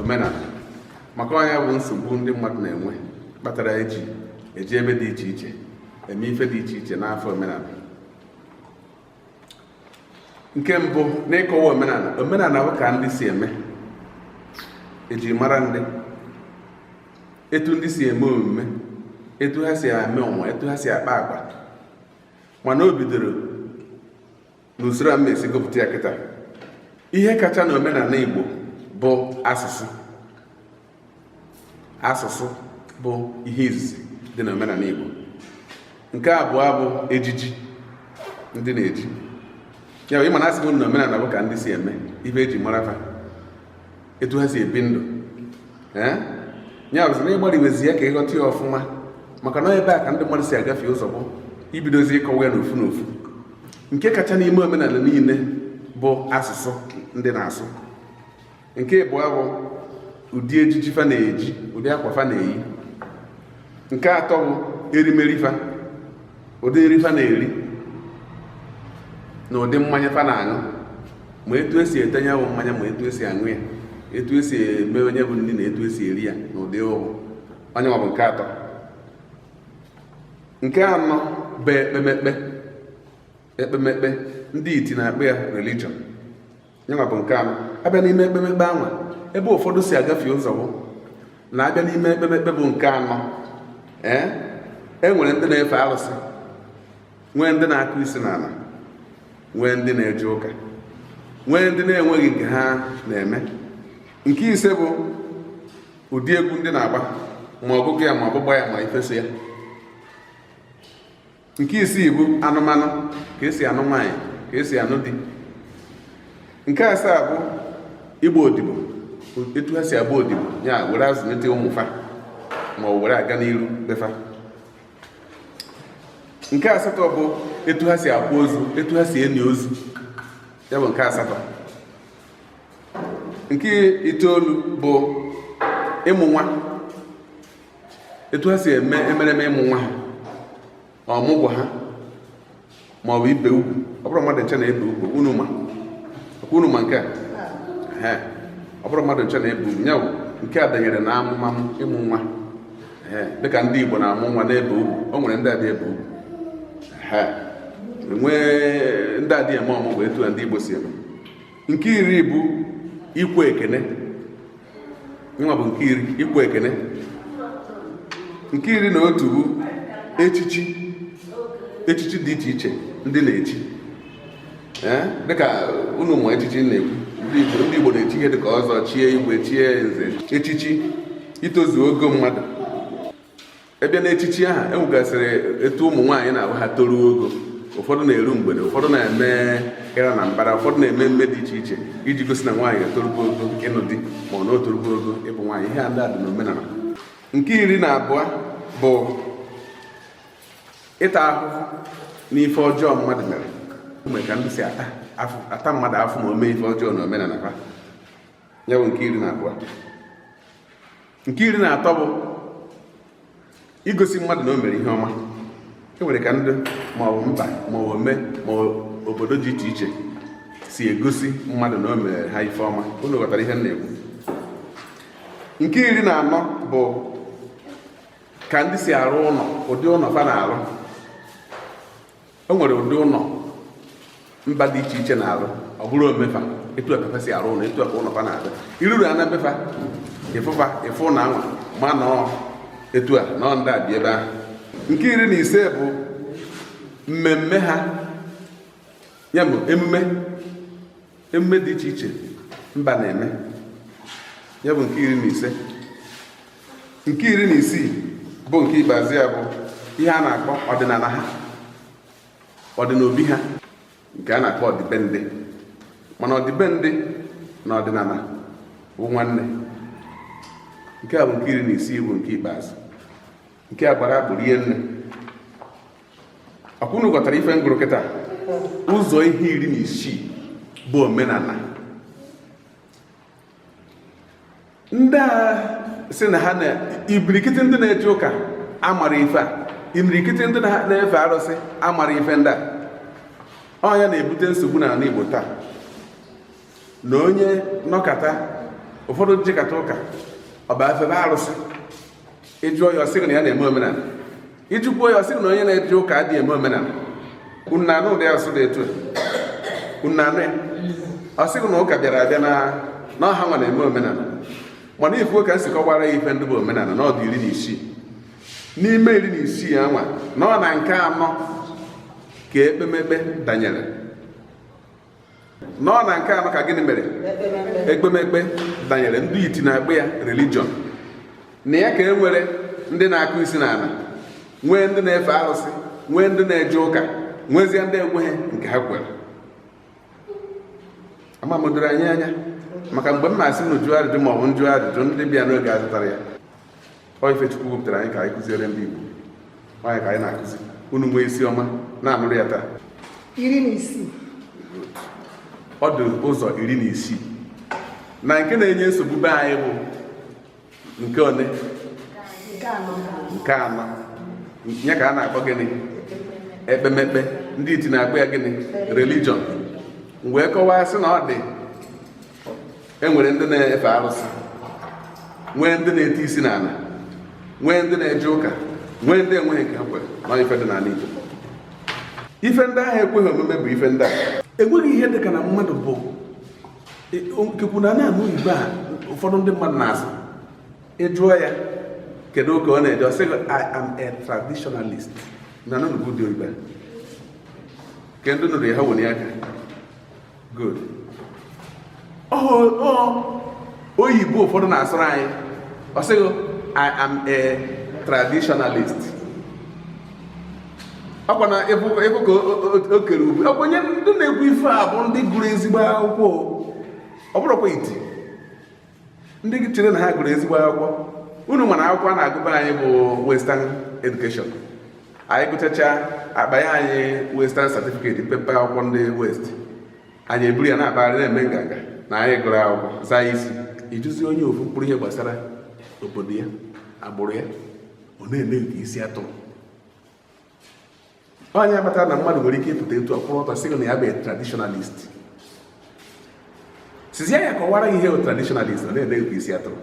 omenala maka na nya bụ nsogbu ndị mmadụ na-enwe kpatara eji eje ebe dị iche iche eme ife dị iche iche n'afa omenala nke mbụ n'ịkọwa omenala omenala bụ ka ndị si eme eji mara ndị etu ndị si eme omume etu ha si eme onwe ha etu ha si akpa agwa mana o bidoro n'usoro a m na-esi gụpụta ya kịta ihe kacha na omenala Igbo bụ asụsụ asụsụ bụ ihe izizi dị na omenala Igbo nke abụọ bụ ejiji ndị na-eji ya ịma na asị m na omenala bụ ka ndị si eme ife eji mara fa etu ha si ebi ndụ eh? ya bụzi na ịgbariwezi ya ka ịghọta ya ọfụma maka na ebe a ka ndị mmadụ si agafie ụzọ bụ ibidozi ịkọwa ya n'ofu n'ofu nke kacha n'ime omenala niile bụ asụsụ ndị na-asụ nke ịbụa bụ ụdị ejiji fa na-eji ụdị akwa fa na-eyi nke atọ bụ erimeri fa ụdị nri fa na-eri na ụdị mmanya fa na-aṅụ ma etu esi ete nya bụ mmanya ma etu esi aṅụ ya etu esi eme nya bụ nri na etu esi eri ya na ụdị ọ bụ nyenwa bụ nke atọ nke anọ bụ ekpemekpe ekpemekpe ndị iti na-akpọ ya religion nyenwa bụ nke anọ abịa n'ime ekpemekpe anwa ebe ụfọdụ si agafie ụzọ bụ na abịa n'ime ekpemekpe bụ nke anọ ee e nwere ndị na-efe arụsị nwee ndị na-akụ isi n'ala nwee ndị na-eje ụka nwee ndị na-enweghị nke ha na-eme nke ise bụ ụdị egwu ndị na-agba ma ọgụgụ ya ma ọgbụgba ya ma ife so ya nke isii bụ anụmanụ ka esi anụ nwaanyị ka esi anụ di nke asaa bụ ịgba odibo etu ha si agba odibo ya were azụlite ụmụ fa ma were aga n'iru be fa nke asatọ bụ etu ha si akwa ozu etu ha si eni ozu ya bụ nke asatọ nke itoolu bụ ịmụ nwa etu ha si eme emereme ịmụ nwa ha ọmụgwọ ha ma ọ bụ ibe ugwu ọ bụrọ mmadụ ncha na-ebe ugwu ọkwa unu ma ọkwa unu ma nke a ọ bụrọ mmadụ ncha na-ebe ugwu nya wụ nke a danyere na amụmamụ ịmụ nwa dịka ndị Igbo na-amụ nwa na-ebe ugwu o nwere ndị adị ebe ugwu enwee ndị adị eme ọmụgwọ etu a ndị Igbo si eme nke iri bụ ikwe ekene nwa bụ nke iri ikwe ekene nke iri na otu bụ echichi echichi dị iche iche ndị na-echi dịka unu ma echichi m na-ekwu ndị Igbo na-echi ihe dịka ọzọ chie igwe chie nze echichi itozu ogo mmadụ a bịa n'echichi aha e nwegasịrị etu ụmụ nwaanyị na-abụ ha toruo ogo ụfọdụ na-eru mgbede ụfọdụ na-eme ịra na mbara ụfọdụ na-eme emume dị iche iche iji gosi na nwaanyị etorugo ogo ịnụ di ma ọ na o torugo ogo ịbụ nwaanyị ihe a ndị a dị n'omenala nke iri na abụọ bụ ịta ahụhụ n'ife ọjọọ mmadụ mere ume ka ndị si ata mmadụ afụfụ ma o mee ife ọjọọ na omenala ha ya bụ nke iri na abụọ nke iri na atọ bụ igosi mmadụ na o mere ihe ọma e nwere ka ndị maọbụ mba maọbụ ome ma obodo dị iche iche si egosi mmadụ na o mere ha ife ọma unu ghọtara ihe m na-ekwu nke iri na anọ bụ ka ndị si arụ ụlọ ụdị ụlọ fa na-arụ e nwere ụdị ụlọ mba dị iche iche na-arụ ọ bụrụ ome fa etu a ka fa si arụ ụlọ etu a ka ụlọ fa na-adị i ruru ana be fa ị fụ fa ị fụ na anwa ma na ọ etu a na ọ ndị a bi ebe ahụ nke iri na ise bụ mmemme ha ya bụ emume emume dị iche iche mba na-eme ya bụ nke iri na ise nke iri na isii bụ nke ikpeazụ ya bụ ihe a na-akpọ ọdịnala ha ọdịnobi ha nke a na-akpọ ọdịbendị mana ọdịbendị na ọdịnala bụ nwanne nke a bụ nke iri na isii bụ nke ikpeazụ nke a gbara agbụ rie nne ọkwa unu ghọtara ife m gụrụ kịta ụzọ ihe iri na isii bụ omenala ndị a si na ha na ibirikiti ndị na-eje ụka amara ife a imirikiti ndị na-efe arụsị amara ife ndị a ọ nya na-ebute nsogbu n'ala Igbo taa na onye nọkata ụfọdụ jikata ụka ọ bịa febe arụsị ị jụọ ya ọ sị gị na ya na-eme omenala ị jụkwuo ya ọ sị gị na onye na-eje ụka adịghị eme omenala unu na-anụ ụdị asụsụ dị etu a unu na-anụ ya ọ sị gị na ụka bịara abịa na na ọ ha nwa na-eme omenala mana ị fụgo ka m si kọwara ya ife ndị bụ omenala na ọ dị iri na isii n'ime iri na isii anwa na ọ na nke anọ ka ekpemekpe danyere nọ na nke anọ ka gịnị mere ekpemekpe danyere ndị iti na-akpọ ya religion na ya ka e nwere ndị na-akụ isi n'ala nwee ndị na-efe arụsị nwee ndị na-eje ụka nwezie ndị enweghị nke ha kwere ama m o doro anyị anya maka mgbe m na-asị na jụọ ajụjụ ma ọ bụ m jụọ ajụjụ ndị bịa n'oge azụtara ya ọ ife Chukwu wepụtara anyị ka anyị kụziere ndị Igbo ọ nya ka anyị na-akụzi unu nwee isi ọma na-anụrụ ya taa iri na isii ọ dị ụzọ iri na isii na nke na-enye nsogbu be anyị bụ nke one nke anọ nya ka a na-akpọ gịnị ekpemekpe ndị iti na-akpọ ya gịnị religion wee kọwaa sị na ọ dị e nwere ndị na-efe arụsị nwee ndị na-eti isi n'ala nwee ndị na-eje ụka nwee ndị enweghị nke ha kwere na ife dị n'ala Igbo ife ndị ahụ ekweghị omume bụ ife ndị a enweghị ihe dị ka na mmadụ bụ e, nkekwu na na-anụ ugbu a ụfọdụ ndị mmadụ na-asị ị jụọ ya kedu ụka ọ na-eje ọ sị I am a traditionalist na nanụbụ dị oyibo ka ndị nụrụ ya ha were aka good oyibo ụfọdụ na-asụrụ anyị ọ sị gị i am a traditionalist ọkwa na ị fụ ka o kere ube ọkwa onye ndị na-ekwu ife a bụ ndị gụrụ ezigbo akwụkwọ ọ bụrọkwa iti ndị chere na ha gụrụ ezigbo akwụkwọ unu ma na akwụkwọ a na-agụ be anyị bụ western education anyị gụchacha a kpanye anyị western certificate pepe akwụkwọ ndị west anyị eburu ya na-akpagharị na-eme nganga na anyị gụrụ akwụkwọ zaa isi ị jụzie onye ofu mkpụrụ ihe gbasara obodo ya agbụrụ ya ọ na-eme nke isi atụrụ ọ nya kpatara na mmadụ nwere ike ịpụta etu a kwụrụ ọtọ sị na ya bụ traditionalist sịzie ya kọwara gị ihe bụ traditionalist ọ na-eme nke isi atụrụ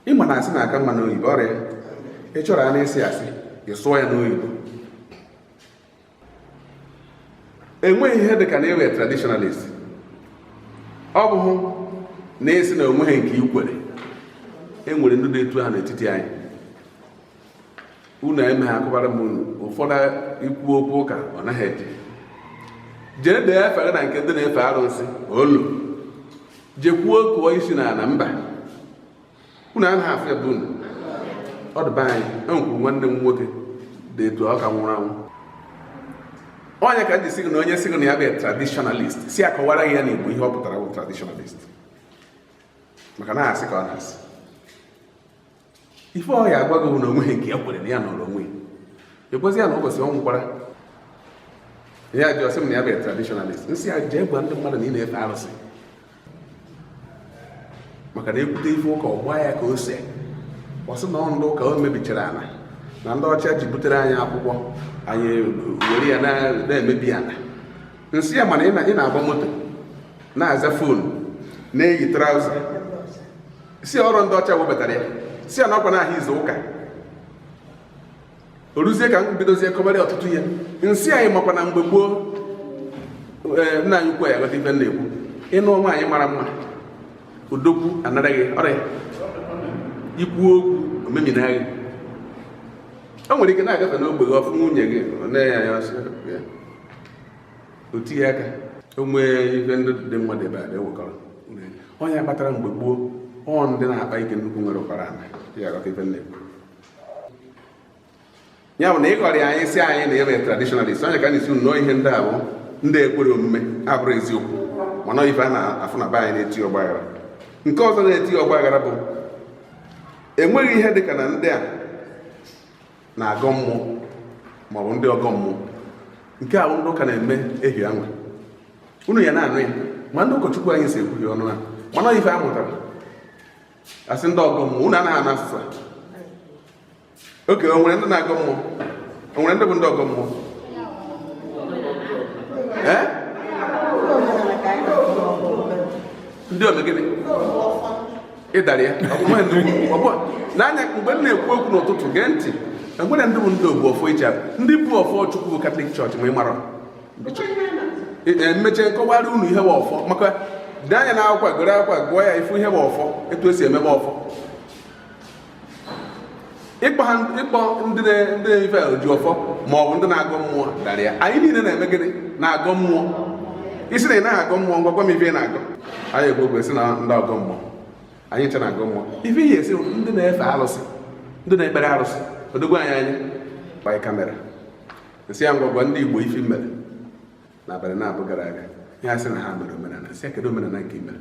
ị ma na asị na-aka mma n'oyibo ọrịa ị chọrọ ya na-esi asị ị sụọ ya n'oyibo enweghị ihe dị ka na ị bụ traditionalist ọ bụghị na ị sị na o nweghị nke i kwere e nwere ndị dị etu ahụ n'etiti anyị unu eme ha akọbara m unu ụfọdụ ikwu okwu ụka ọ naghị eje jee dee efe na nke ndị na-efe arụsị olu jekwuo kụọ isi n'ala mba unu anaghị afụ ya be unu ọ dị be anyị e nwekwuru nwanne m nwoke dị etu a ka nwụrụ anwụ ọ nya ka m ji sị gị na onye sị gị na ya bụ traditionalist sị ya kọwara gị ya n'Igbo ihe ọ pụtara bụ traditionalist maka na asị ka ọ na-asị ife ọ ya agwa gị bụ na o nweghị nke ya kwere na ya nọrọ onwe ekwezi ya na ụbọchị ọ nwụkwara ya ji ọ sị m na ya bụ traditionalist nsị ya jee gwa ndị mmadụ na ị na-efe arụsị maka na e kwute ife ụka ọ gbaa ya ka ose ọ sị na ọ ndị ụka mebichara ana na ndị ọcha ji butere anyị akwụkwọ anyị were ya na-emebi ana nsị ya mana ị na-agba moto na-aza phone na-eyi trouser sị ya ọ rọ ndị ọcha webatara ya sị ya na ọ kwa n'ahịa izu ụka o ruzie ka m bidozie kọbara ọtụtụ ihe nsị ya na ị makwa na mgbe gboo eh, nna anyị ukwu ya aghọta ife m na-ekwu ị nụọ nwaanyị mara mma odogwu anara gị ya i kwuo okwu o memina gị o nwere ike na-agafe n'ogbe gị ọ fụ nwunye gị na-enye ya o tie ya aka o nwee ife ndị dị mma dị ebe a na-ewekọrọ onye kpatara mgbe gboo ọ ndị na-akpa ike nnukwu nwekara ana ya aghọta ife m na-ekwu ya bụ na ị ghọrịa anyị sị anyị na ị bụ traditionalist onye ka ị na-asị nnọọ ihe ndị ahụ ndị ekwere omume abụrụ eziokwu mana ife a na-afụ na be anyị na-etiye ọgbaghara nke ọzọ na-etiye ọgbaghara bụ enweghị ihe dịka na ndị a na-agọ mmụọ ma ọ bụ ndị ọgọ mmụọ nke anyị ndị ụka na-eme ehi anwa unu ya na-anụ ya ma ndị ụkọchukwu anyị so ekwuhie ọnụ ha mana ife a mụtara asị ndị ọgọ mmụọ unu anaghị anụ asụsụ okay o nwere ndị na-agọ mmụọ o nwere ndị bụ ndị ọgọ mmụọ ee ndị ome gịnị ị dara ya n'anya mgbe m na-ekwu okwu n'ụtụtụ gee ntị e nwere ndị bụ ndị obu ọfọ iche ndị bu ọfọ chukwu bụ catholic church ma ị marọ e mechee m kọwara unu ihe bụ ọfọ maka dị anya na akwụkwọ gọrụ akwụkwọ gụọ ya ị fụ ihe bụ ọfọ etu e si emebe ọfọ ịkpọ ndị na-efe oji ọfọ ma ọ bụ ndị na-agọ mmụọ ị dara ya anyị niile na-eme gịnị na-agọ mmụọ ị sị na ị naghị agọ mmụọ ngwa gwa m ife ị na-agọ anyị egbogwe si na ndị ọgọ mmụọ anyị ncha na-agọ mmụọ ife ị ya asị ndị na-efe arụsị ndị na-ekpere arụsị odogwu anyị anya gbanye camera nsị ya ngwa gwa ndị igbo ife mere n'abalị naabọ gara aga ya sị na ha mere omenala nsị ya kedu omenala nke e mere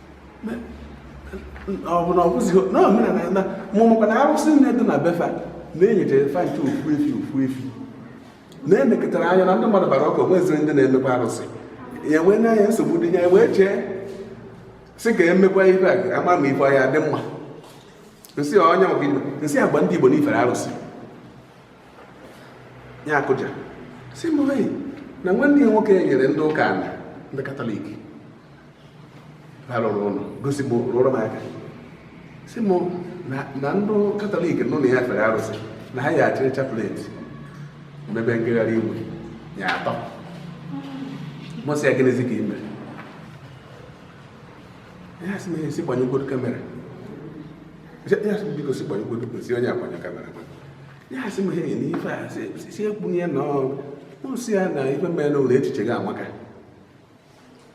ọ bụ na ọ bụzighị na omenala na m makwa na arụsị niine dị na be fa na e nyechara fa ncha ofu efi ofu efi na-emekọtara anya na ndị mmadụ bara ụka o nwezirọ ndị na-emekwa arụsị ya wee na-enye anyị nsogbu dị ya wee chee sị ka e mekwaa ife a a ma ma ife ya adị mma nsị onye maka igbo nsị ya gwa ndị igbo na i fere arụsị ya akụja sị m na nwanne ya nwoke nyere ndị ụka ala ndị katọlik ha rụrụ ụlọ gosi m rụrụ m aka sị m na ndị katọlik nọ na ya fere arụsị na ha ya-achịrị chaplet mebe ngagharị iwe ya atọ mụ sị ya gịnịzi ka i me ya sị m esi gbanyegwodo kamera ya sị biko si gbanyegwodo kwesị onye agbanye kamera ya sị m he na ife a si ekpunye na mụ sị ya na ife mere na ụlọ echiche gị amaka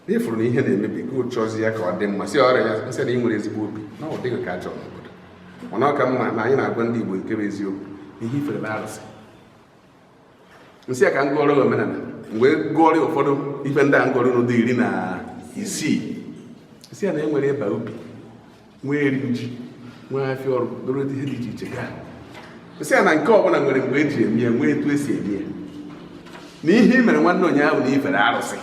ị fụrụ na ihe na-emebi ka ị chọzi ya ka ọ dị mma si ọrịa ya m sị na ị nwere ezigbo obi na ọ dịghị ka a chọrọ n'obodo mana ọ ka mma na anyị na-agwa ndị Igbo nke bụ eziokwu ihe i fere na arụsị m sị ya ka m gụọrọ omenala m wee gụọrọ ụfọdụ ife ndị a m gụọrọ unu dị iri na isii m sị ya na e nwere ịba ubi nwee iri ji nwee afịa ọrụ doro ihe dị iche iche gaa m sị ya na nke ọbụla nwere mgbe e ji eme ya nwee etu e si eme ya na ihe i mere nwanne ụnyaahụ na i fere arụsị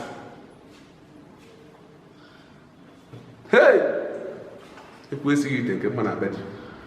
ekwesịghị ite nke mma na be